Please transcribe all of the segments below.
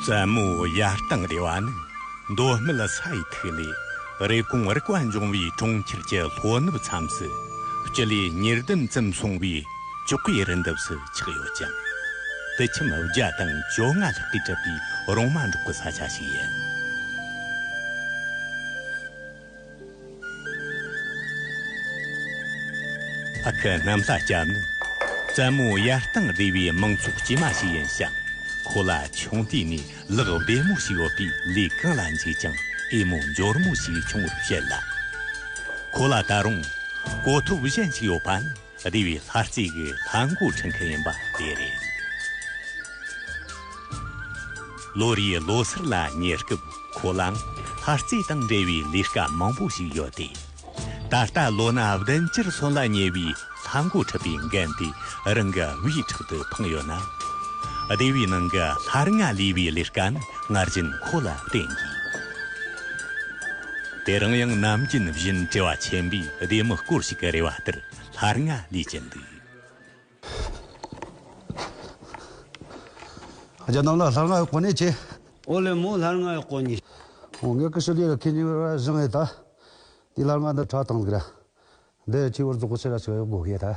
བཙན་མོ་ཡར་གཏང་རེ་བ་ནི་མདོ་སྨད་ས་ཡི་ཐིག་ལེ་རེབ་གོང་རིག་པ་འབྱུང་བའི་གྲོང་ཁྱེར་གྱི་ལྷོ་ནུབ་མཚམས་སུ་སྤྱི་ལེ་ཉེར་བདུན་ཙམ་སོང་བའི་ཅོག་གེ་རི་འདབས་སུ་ཆགས་ཡོད་ཅིང། དུད་ཁྱིམ་བརྒྱ་དང་བཅོ་ལྔ་ལྷག་གིས་གྲུབ་པའི་རོང་མ་འབྲོག་གི་ས་ཆ་ཞིག་ཡིན། ཨ་ཁུ་གནམ་ལྷ་སྐྱབས་ནི་བཙན་མོ་ཡར་བཏང་སྡེ་བའི་མང་ཚོགས་དཀྱུས་མ་ཞིག་ཡིན་ཞིང། ཁོ་ལ་ཆུང་དུས་ནས་ལག་བདེ་མོ་ཞིག་ཡོད་པས་ལས་གང་ལ་འཇུག་ཀྱང་ཨེ་མོ་འབྱོར་མོ་ཞིག་བྱུང་བར་བཤད་ལ། ཁོ་ལ་ད་རུང་གོ་ཐོབ་གཞན་ཞིག་ཡོད་པ་ནི། སྡེ་བའི་ལྷ་རྩིས་ཀྱི་ལྷ་མགོ་འཁྲིད་མཁན་ཡིན་པ་དེ་རེད། ལོ་རེའི་ལོ་སར་ལ་ཉེ་སྐབས་ཁོ་ལའང་ལྷ་རྩིས་དང་འབྲེལ་བའི་ལས་ཀ་མང་པོ་ཞིག་ཡོད་དེ། ད་ལྟ་ལོ་ན་བདུན་བཅུར་སོན་ལ་ཉེ་བའི་ལྷ་མགོ་འཁྲིད་པའི་འགན་དེ་རང་གི་བུའི་ཕྲག་ཏུ་འཕངས་ཡོད་ན། སྡེ་བའི་ནང་གི་ལྷ་རྔ་ལས་པའི་ལས་ཀ་ནི་སྔར་བཞིན་ཁོ་ལ་བརྟེན་དགོས། དེ་རིང་ཡང་ནམ་རྒྱུན་བཞིན་བྲེལ་བ་ཆེན་པོས་སྡེ་མི་སྐོར་ཞིག་གི་རེ་བ་ལྟར་ལྷར་ང་ལས་ཀྱི་འདུག། རྒྱ་ནང་ལ་ལྷར་ང་ཡོད་གོ་ནི་ཅི། ཨོ་ལེ་མོ་ལྷར་ང་ཡོད་གོ་ནི། ཨོ་ངའི་ཀི་ཤུ་ལི་ར་ཁི་ནི་ར་བཞི་ངའི་ད། དེའི་ལྷར་ང་འདི་ཁྲག་དང་ལི་ར། འདི་ཡི་ཁྱི་བུར་རྫོགས་གོ་ཆི་ར་ཆི་ར་ཡོད་གོ་གི་ད།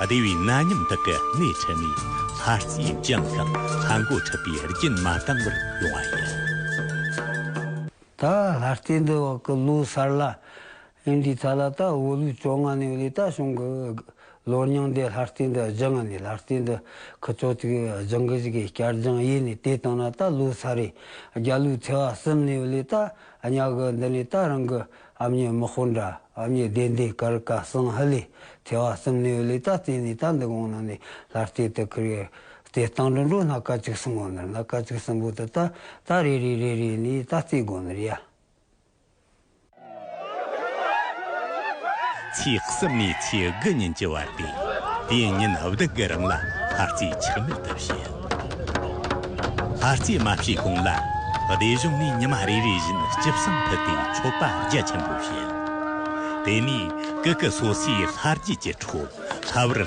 བདེ་བའི་གནའ་ཉམས་དག་གི་གནས་འཕྲི་ནས། ལྷ་རྩེའི་ལྗང་གསང་ལྷ་མགོ་འཁྲིད་པའི་རྒྱུན་མ་དྭངས་པར་ཡོང་བ་ཡིན། ད་ལྷ་རྩེ་འདི་བག་གི་ལོའི་གསར་ལྷ་ཡིན། དེའི་ཐད་ལ་ད་དབུ་ལུའི་བཅོ་ལྔ་ནས་ལས་རྟ་བྱུང་གི། ལོ་རྙིང་འདི་ལྷ་རྩེ་འདི་བརྒྱུད་ངང་ནས་ལྷ་རྩེ་འདི་གི་ཆོས་ཚིག་སྦྱང་གི་གཞིས་ཀའི་བསྐྱར་སྦྱངས་ཡེ་ནས་དེ་བཏང་ན་ད་ལོའི་ས་རེས་རྒྱ་ལོའི་ཚེས་བ་གསུམ་ནས་ལས་རྟ་གཉའ་གི་འདི་ནས་ད་རང་གི། ཨ་མྱེས་དམག་དཔོན་འདྲ་ཨ་མྱེས་བདེ་ལྡན་གར་བཀའ་གསང་ཧ་ལས་ཐལ་བ་གསུམ་ནས་ལས་རྟགས་བསྟན་ནས་རྟ་འདི་གོང་ན་ནས་ལྷར་བལྟས་དུ་ཁུར་ཡོད། དེ་སྟངས་འགྲོ་འགྲོ་སྣ་ཀ་གཅིག་གསུམ་ངོ་ནར་སྣ་ཀ་གཅིག་གསུམ་པོ་དུ་རྟ་རྟ་རེ་རེ་རེ་རེ་ནས་རྟ་རྩེ་དགོ་ནར་ཡ། ཚེས་གསུམ་ནས་ཚེས་དགུ་ཉིན་གྱི་བར་ཏེ། དེའི་ཉིན་བདག་གི་རིང་ལ་ལྷ་རྩེའི་ཆགས་མེད་དུ་བྱེད། ལྷ་རྩེའི་མ་བྱས་གོང་ལ་སྡེ་གཞུང་ནས་ཉི་མ་རེ་རེ་བཞིན་སྤྱི་བསང་ཕུལ་ཏེ་མཆོད་པ་རྒྱ་ཆེན་པོ་བྱེད། དེ་ནས་ཀུ་ཀུ་སོ་སོའི་ལྷ་རྒྱུད་ཀྱི་འཕྲོ་ལྷ་བར།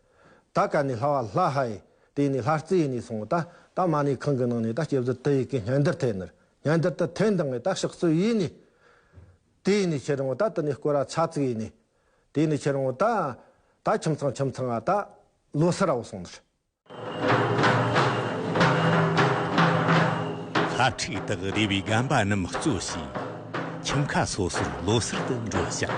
ད་ག་ནས་ལྷ་བ་ལྷ་ཧ་ཡེ། དེ་ནས་ལྷ་རྩེ་ཡེ་ནས་སོང་ད་ད་མ་ནི་ཁང་གི་ནང་ནས་ད་སྐྱེ་བཟོད་དུ་ཡི་གེ་སྙན་དར་ཐད་ནར་སྙན་དར་དུ་ཐད་འདང་ངེ་ད་ཤག་སུ་ཡེ་ནས། དེ་ཡེ་ནས་ཁྱེད་རང་ངོ་ད་དུ་ནས་སྐོར་ར་ཆ་ཚིག་ཡེ་ནས། དེ་ནས་ཁྱེད་རང་ངོ་ད། ད་ཁྱིམ་ཚང་ཁྱིམ་ཚང་ང་ད། ལོ་སི་ར་བོ་སོང་ནར། ལྷ་ཁྲིག་དག་རེ་བའི་སྒམ་པ་རྣམས་གཙོ་བྱས། ཁྱིམ་ཁ་སོ་སོར་ལོ་སིར་དུ་འགྲོ་བྱ།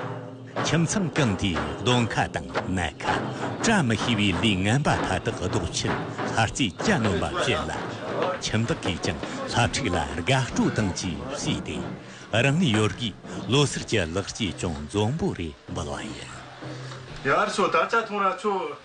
ཁྱིམ་ཚང་གང་དེའི་གདོང་ཁ་དང་སྣ་ཁ། བཀྲ་མི་ཤིས་པའི་ལུས་ངན་པ་མཐའ་དག་ལྡོག་ཕྱིར་ལྷ་རྩེའི་སྐྱ་སྣོམ་པ་བྱས་ལ། ཁྱིམ་བདག་གིས་ཀྱང་ལྷ་ཁྲིགས་ལ་དགའ་སྤྲོ་དང་བཅས་བསུས་ཏེ། རང་ནུས་ཡོད་དགུས་ལོ་སར་གྱི་ལག་སྐྱེས་ཀྱང་འཛོམས་པོ་རེ་འབུལ་བ་ཡིན། ཡར་ཤོག་དར་ཆ་ཐོངས་ར་ཆོག།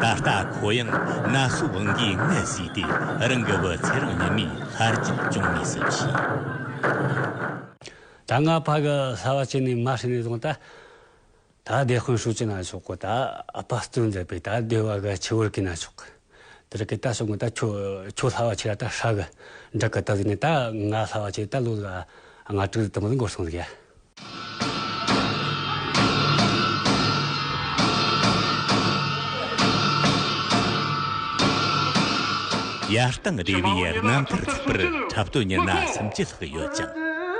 ད་ལྟ་ཁོ་ཡང་ན་སོ་བང་གིས་མངལ་བཟས་ཏེ་རང་གི་བུ་ཚེ་རིང་ཉི་མའི་ལྷར་གྱིས་སྐྱོང་ངེས་སུ་མཆིས། ད་སྔ་ཕ་གི་ལྷ་བ་ཅན་ནས་མ་ཧྲི་ནས་བཟུང་སྟེ། ད་བདེ་དཔོན་ཧྲུའུ་ཅི་ན་ཆོག་གོ་ད་ཨཔ་སྟོན་མཛད་པས་ད་བདེ་བ་གི་ཆེ་བུར་གྱི་ན་ཆོག་གི། དེ་རིགས་ཀྱི་ད་སོ་ངོ་ད་ཁྱོད་ཁྱོད་ལྷ་བ་ཆེ་ལ་ད་ཧྲ་གི་འབྲུག་གི་ད་བཟས་ནས་ད་ང་ལྷ་བ་ཆེ་ད་ལོ་ལ་ང་དྲུག་རི་དུ་མར་འགོར་སོང་ཟེར། ཡར་དང་རེ་བའི་རྣམ་ཐར་ཚུད་པར་འཁྲབ་སྟོན་གཉེར་ན་སུམ་བརྒྱ་ལྷག་ཡོད་ཀྱང།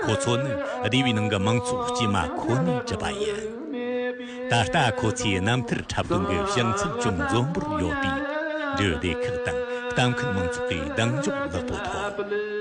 ཁོ་ཚོ་ནི་སྡེ་བའི་ནང་གི་མང་ཚོགས་དཀྱུས་མ་ཁོ་ནས་གྲུབ་པ་ཡིན། ད་ལྟ་ཁོ་ཚོས་རྣམ་ཐར་འཁྲབ་སྟོན་གྱི་བྱང་ཚད་ཅུང་འཛོམས་པོར་ཡོད་པས། འབྲེལ་ཡོད་སྡེ་ཁག་དང་གཏམ་འཁེལ་མང་ཚོགས་ཀྱི་གདེང་འཇོག་ལེགས་པོ་ཐོབ།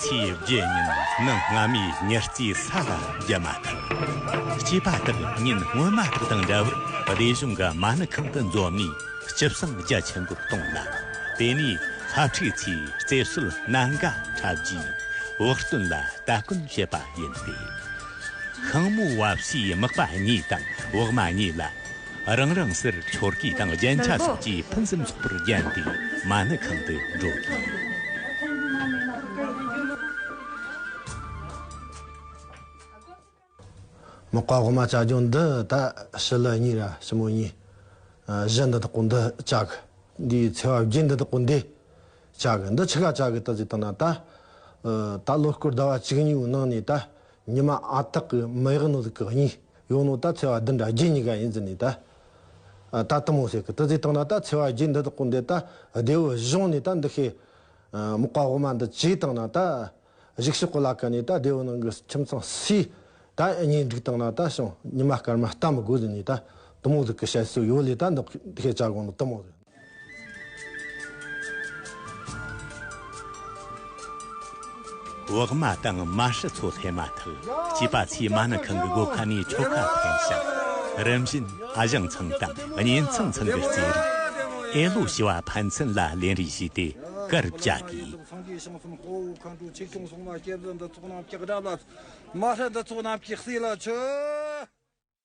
ཚེས་བརྒྱད་ཉིན་ནི་སྔ་མའི་ཉི་རྩིས་ས་ལ་བརྒྱབ་མ་ཐག་སྐྱེས་པ་དག་ཉིན་སྔོན་མ་དག་དང་འདྲ་བར་སྡེ་གཞུང་གི་མ་ཎི་ཁང་དུ་འཛོམས་ནས་སྤྱི་བསང་རྒྱ་ཆེན་པོ་གཏོང་ལ། དེ་ནས་ཧབ་ཁྲིད་ཚོས་རྩེ་སོལ་སྣ་འགའ་འཁྲབ་རྗེས་བག་སྟོན་ལ་སྟ་གོན་བྱེད་པ་ཡིན་ཏེ། ཤིང་མོ་བ་བསིའི་སྨག་པ་གཉིས་དང་བག་མ་གཉིས་ལ། རང་རང་སར་ཆོར་གི་དང་རྒྱན་ཆ་སོགས་ཀྱིས་ཕུན་སུམ་ཚོགས་པོར་བརྒྱན་ཏེ་མ་ཎི་ཁང་དུ་འགྲོ་དགོས། མི་བཀའ་བསྒོ་མ་བྱ་རྒྱུ་འདི་ད་ཕྱི་ལོ་གཉིས་ར་ཕྱི་མོ་གཉིས། གཞི་འདི་དག་གོ་འདི་བྱ་གི། འདི་ཡི་ཚེ་བ་བརྒྱད་འདི་དག་གོ་འདི་བྱ་གི། འདི་ཕྱི་ག་བྱ་གི་ད་ཟིག་དང་ན་ད། ད་ལོ་སྐོར་ཟླ་བ་གཅིག་གཉིས་པོའི་ནང་ནས་ད་ཉི་མ་ཨ་སྟག་གི་མི་ཡག་ནོ་ཟིག་གི་གཉིས། ཡོང་ནོ་ད་འཚེ་བ་འདི་འདྲ་བརྒྱུད་གཉིས་ཀ་ཡིན་ཟེར་ནས་ད། ད་གཏི་མུག་ཟེར་གི་ཏི་ཙི་བཏང་ན་ད་འཚེ་བ་བརྒྱུད་འདི་དག་གོ་འདི་ད་བདེ་བོ་གཞུང་ནས་ད་འདི་ཤེས། མག་པ་དབུ་མ་འདི་ཇི་བཏང་ན་ད། གཞུག་ཤི་ཀོ་ལ་ཀ་ནས་ད་བདེ་བོ་ནང་གི་ཁྱིམ་ཚང་ཟས། ད་གཉེན་སྒྲིག་བཏང་ན་ད་བྱུང་ཉི་མ་སྐར་མ་ལྟ་མི་དགོས་ཟེར་ནས་ད་གཏི་མུག་ཟེར་གི་བཤད་སྲོལ་ཡོད་ལས་ད་འདི་ཤེས་བྱ་དགོངས་ནོ་གཏི་མུག་ཟེར། འོག་མ་དང་མ་ཧྲི་ཚོ་སླེབས་མ་ཐག་སྐྱེས་པ་ཚོས་མ་ནི་ཁང་གི་སྒོ་ཁ་ནས་ཁྲོ་ཁ་འཐེན་ཞིང། རིམ་བཞིན་ཨ་ཞང་ཚང་དང་གཉེན་ཚང་ཚང་གི་རྩེད་རིགས། ཨེ་ལོ་ཞི་བ་ཕན་ཚུན་ལ་ལེན་རེས་བྱས་ཏེ་སྐར་བཅའ་དགོས།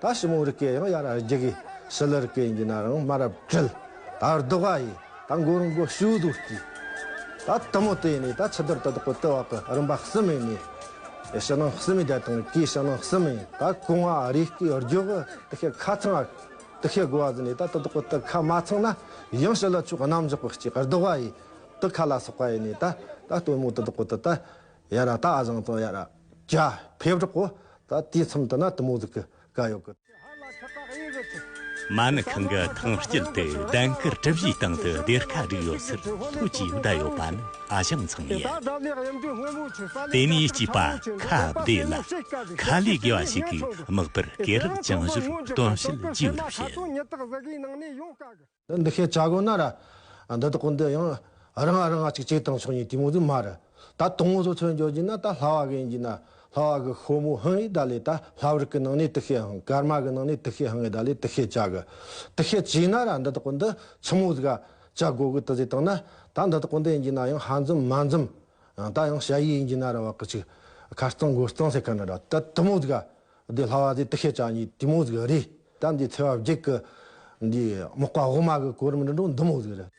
ད་ཞི་མོ་རི་སྐད་ཡང་ཡར་རྒྱག་གི། ཞི་ལི་རི་སྐད་ཡིན་གྱི་ན་རང་མ་རབས་བྲེལ། ད་རྡོ་ག་ཡི་ད་མགོ་རུ་མགོ་ཞུ་དུ་སྐྱི། ད་དུ་མོ་དེ་ནི་ད་ཆུ་དར་དུ་དོག་གི་དུ་བ་གི་རིམ་པ་གསུམ་ཡིན་ནི། ཡ་ཞི་ནང་གསུམ་ཡི་དལ་དང་གིས་ཞི་ནང་གསུམ་ཡིན་ད་གོང་མ་རི་སྐད་རྒྱོག་གི་དུ་ཤད་ཁ་ཚང་ཨ། དུ་ཤད་དགོ་བ་ཟི་ནི་ད་དུ་དོག་གི་དུ་ཁ་མ་ཚང་ན་ཡང་ཞི་ལི་ཕྱོགས་རྣམ་འཇོག་གི་སྐྱི་རྡོ་ག་ཡི་དུ་ཁ་ལ་སོགས་པ་ཡིན་ནི་ད་ད་དུ་མོ་དུ་དོག་གི་དུ་ད་ཡ་ར་ད་ཨ་བཟང་དང་ཡ་ར། རྒྱ། ཕེབས་རོགས་གོ། ད་དུས་མཚམས་དུ་ན་དུ་མོ་ཟིག་གི་ག་ཡོག་གི། མ་ནི་ཁང་གི་ཐང་དཀྱིལ་དུ་གདན་དཀར་གྲུ་བཞིའི་སྟེང་དུ་སྡེར་ཁ་བསྒྲིགས་ཡོད་ཟེར་ཐུགས་ཀྱིས་བསྡད་ཡོད་པ་ནི་ཨ་ཞང་ཚང་ཡིན། དེ་ནས་སྐྱིད་པ་ཁ་བདེ་ལ་ཁ་ལས་དགེ་བ་ཞིག་གིས་དམིགས་པར་སྐེ་རགས་བཅིངས་བཞོར་སྟོན་བཤད་རྒྱས་པར་བྱེད། འདི་ཤེས་བྱ་དགོས་ན་ར། འདི་དག་གི་འདི་ཡང། ར་ང་ར་ང་གཅིག་གཅིག་དང་ཆོས་ཉིད་དུས་མོ་དུས་མ་ར། ད་དུང་ངོ་སོ་ཚོད་འཇོག་རྒྱུ་ན་ད་ལྷ་བ་གི་འགྱིས་ན་ལྷ་བ་གི་ཤོ་མོ་ཧང་ཡིག་ད་ལས་ད་ལྷ་བར་གི་ནང་ནས་དུ་ཤེས་ཧང་ཀར་མ་གི་ནང་ནས་དུ་ཤེས་ཧང་ངེ་ད་ལས་དུ་ཤེས་བྱ་གི། དུ་ཤེས་བྱས་ན་ར་འདི་དག་གི་འདི་ཆུ་མོ་གཟུགས། བྱ་དགོས་གི་དུ་ཟེ་དང་ན། ད་འདི་དག་གི་འདི་འགྱིས་ན་ཡང་ཧ་འཛུམ་མ་འཛུམ། ད་ཡང་བྱ་ཡིག་འགྱིས་ན་ར་བ་གི་ཆུ། ཁ་རྩང་སྒོ་རྩང་ཟེ་ག་ན་ར་ད་དུ་མོ་གཟུགས། བདེ་སླ་བ་དེ་དག་ཤེས་བྱ་གཉིས་དུས་མོ་ཟིག་རེད་ད། འདིའི་ཚེ་བ་བརྒྱད་ཀྱི་འདི་རྨོག་པ་འོག་མ་གི་གོ་རིམ་འདི་འགྲོ་འདི་མོ་ཟིག་རེད།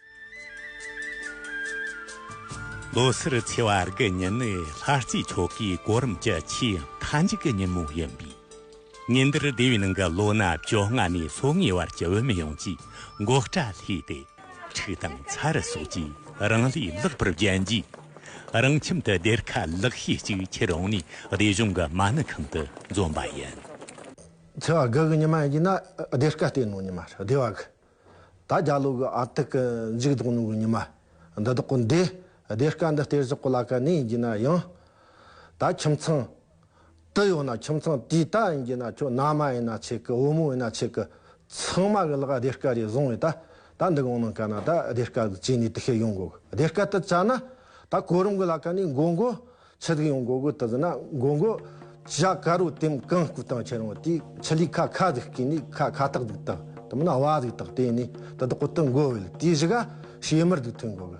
ལོ་སར་ཚེ་བ་དགུ་ཉིན་ནི་ལྷ་རྩེའི་ཆོ་གའི་གོ་རིམ་གྱི་ཆེས་མཐའ་མཇུག་གི་ཉིན་མོ་ཡིན་པས། ཉིན་འདིར་སྡེ་བའི་ནང་གི་ལོ་ན་བཅོ་ལྔ་ནས་སོ་ལྔའི་བར་གྱི་བུད་མེད་ཡོངས་ཀྱིས་འགོག་སྐྲ་སླས་ཏེ། ཕྲུག་དང་ཚ་རུ་སོགས་ཀྱིས་རང་ལས་ལེགས་པར་བརྒྱན་རྗེས། རང་ཁྱིམ་དུ་སྡེར་ཁ་ལེགས་ཤོས་གཅིག་ཁྱེར་རུང་ནས་སྡེ་གཞུང་གི་མ་ཎི་ཁང་དུ་འཛོམས་པ་ཡིན། ཚེ་བ་གི་ཉི་མ་ཡིན་ན་སྡེར་ཁ་སྟེང་ནང་ཉི་མ་རེད། སྡེ་བ་གི་ད་རྒྱ་ལོ་གི་ཨ་ཏི་ཀི་འཇིགས་དོགས་ནང་གི་ཉི་མ་འདི་དག་གི་འདས་སྡེར་ཁ་འདི་སྟེར་གཞི་གོ་ལ་ག་ནས་ཡིན་ན་ཡང་ད་ཁྱིམ་ཚང་དུ་ཡོང་ན་ཁྱིམ་ཚང་དེའི་ལྟ་ཡིན་གྱི་ན་ཁྱོད་ན་མ་ཡིན་ན་ཆེ་གི་བུ་མོ་ཡིན་ན་ཆེ་གི་ཚང་མ་གི་ལག་བདེ་སྐལ་རེ་བཟུང་ཡོད་ད་ད་འདི་གང་གནང་ག་ན་ད་བདེ་སྐལ་གི་བྱས་ནས་དུ་ཤེས་ཡོང་དགོ་གི་བདེ་སྐལ་དུ་བྱ་ན་ད་གོ་རིམ་གི་ལ་ཀ་ནས་འགོ་འགོ་ཆུ་དུག་ཡོང་དགོ་གི་དུ་ཟིན་ན་འགོ་འགོ་བྱ་ཀ་རོ་དེམ་གང་སྐུ་དང་ཁྱེད་རང་དེའི་ཆུ་ལི་ཁ་ཁ་ཟིག་སྐེ་ནི་ཁ་ཁ་ཏག་ཏིག་ཏག་དུ་མི་ན་བ་ཟིག་ཏག་དེ་ནས་དུ་དག་གོ་དུ་འགོ་བལ་དེའི་བཞི་ག་བྱེ་མར་དུ་ཐོན་དགོ་གི།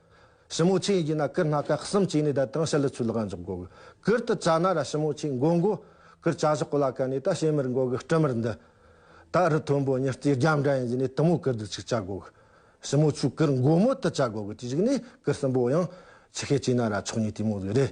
ཞི་མོ་ཆེ་ཡིན་ན་སྐུ་སྣ་ཀ་གསུམ་བཅས་ནས་བཟླས་དང་ཞལ་ལུ་ཆུ་ལག་འཇོག་འགོ་གི། གུར་དུ་བཅའ་ན་ར་ཞི་མོ་ཆེ་མགོ་མགོ། གུར་བཅའ་བཞི་གོ་ལ་ཀ་ནས་ད་བྱེད་མིར་འགོ་གི་སྤྲུལ་མིར་འདི། ད་རི་མཐོན་པོ་ཉི་རྩེ་རྒྱབ་འདྲ་ཡིན་བཞིན་ནས་དུ་མོ་གུར་དུ་ཆིག་བཅའ་འགོ་གི། ཞི་མོ་ཆུ་གུར་མགོ་མོ་དུ་བཅའ་འགོ་གི་དེ་གཞིག་ནས་གུར་གསུམ་པོ་ཡང། ཆི་ཤེ་བཅས་ན་ར་ཕྱོགས་གཉིས་དུས་མོ་བཟོས་རེད།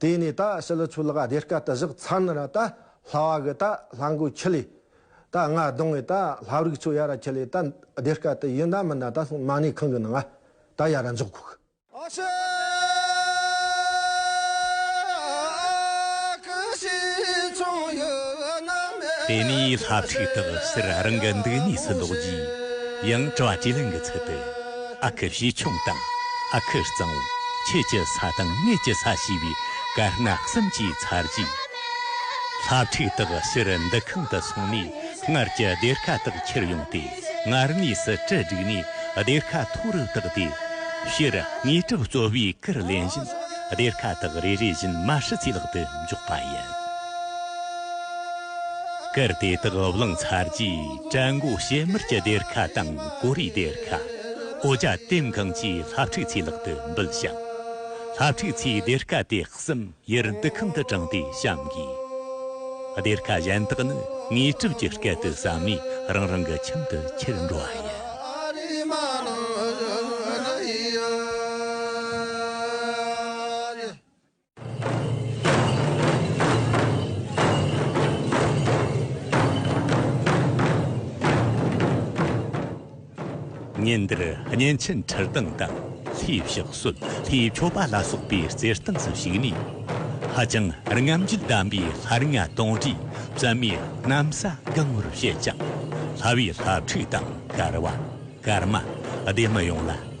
དེ་ནས་ད་ཕྱི་ལ་ཆུ་ལག་སྡེ་དཀར་དུ་བཞག་ཚར་ན་ར་ད་ལྷ་བ་གི་ད་ལྷ་མགོ་ཁྱི་ལས། ད་རྔ་རྡུང་བའི་ད་ལྷ་རིགས་ཆུ་ཡ་ར་ཁྱི་ལས་ད་སྡེ་དཀར་དུ་ཡིན་ད་མིན་ན་ད་སློང་མ་ནས་ཁང་གི་ནང་ང་ད་ཡ་ར་འཇོག་ཁོག། ཨ་ཤ་ཀི་ཤི་ཆུང་ཡུ་ན་མེ་དེ་ནས་ལྷ་ཚིག་དག་སེར་རང་གི་འདུག་གནས་སུ་ལོག་རྗེས་ཡང་བཀྲ་བ་ཇེ་ལེགས་འགི་ཚུལ་དུ། ཨ་ཁུ་བྱེ་ཆུང་དང་ཨ་ཁུ་གཙང་བོ་ཁྱེད་ཀྱི་ས་དང་ངེད་ཀྱི་ས་ཞེས་པའི་དཀར་ནག་གསུམ་གྱི་ཚར་རྗེས། ལྷ་ཕྲུག་དག་ཕྱིར་འདུ་ཁང་དུ་སོང་ནས་སྔར་གྱི་སྡེར་ཁ་དག་ཁྱེར་ཡོང་སྟེ་སྔར་གནས་སུ་གྲི་བསྒྲིགས་ནས་སྡེར་ཁ་མཐོ་རུ་བཏེགས་ཏེ། ཕྱིར་དངོས་གྲུབ་སྩོལ་བའི་སྐུར་ལེན་བཞིན་སྡེར་ཁ་དག་རེ་རེ་བཞིན་མ་ཧྲི་ཚའི་ལག་ཏུ་འཇོག་པ་ཡིན། སྐུར་དེ་དག་བླངས་ཚར་རྗེས། བྲན་མགོ་བྱེ་མར་གྱི་སྡེར་ཁ་དང་གོ་རེའི་སྡེར་ཁ། ཨོ་བྱ་ལྟེམ་གང་བཅས་ལྷ་ཕྲུག་ཚེའི་ལག་ཏུ་འབུལ་ཞིང། ལྷ་ཕྲུག་ཚེའི་སྡེར་ཁ་དེ་གསུམ་ཡུར་འདུག་ཁང་དུ་དྲངས་ཏེ་བཤམ་དགོས། སྡེར་ཁ་གཞན་དག་ནི་ངོས་གྲུབ་ཀྱི་སྐད་དུ་བསམས་ནས་རང་རང་གི་ཁྱིམ་དུ་ཁྱེར་འགྲོ་བ་ཡིན། ཉིན་འདིར་གཉན་ཆེན་ཁྲིར་སྡང་དང་ལྷའི་ཕྱག་སྲོལ་ལྷའི་མཆོད་པ་ལ་སོགས་པའི་རྩེར་སྟེངས་སུ་ཞུགས་ནས། ཧ་ཅང་རྔམ་བརྗིད་ལྡན་པའི་ལྷ་ལྔ་སྟོང་དྲུག་བརྩམས་མའི་གནམ་ས་བསྐང་བར་བཤད་ཅིང། ལྷ་བའི་ལྷ་ཕྲུག་དང་གར་བ། གར་མ། སྡེ་མི་ཡོངས་ལ།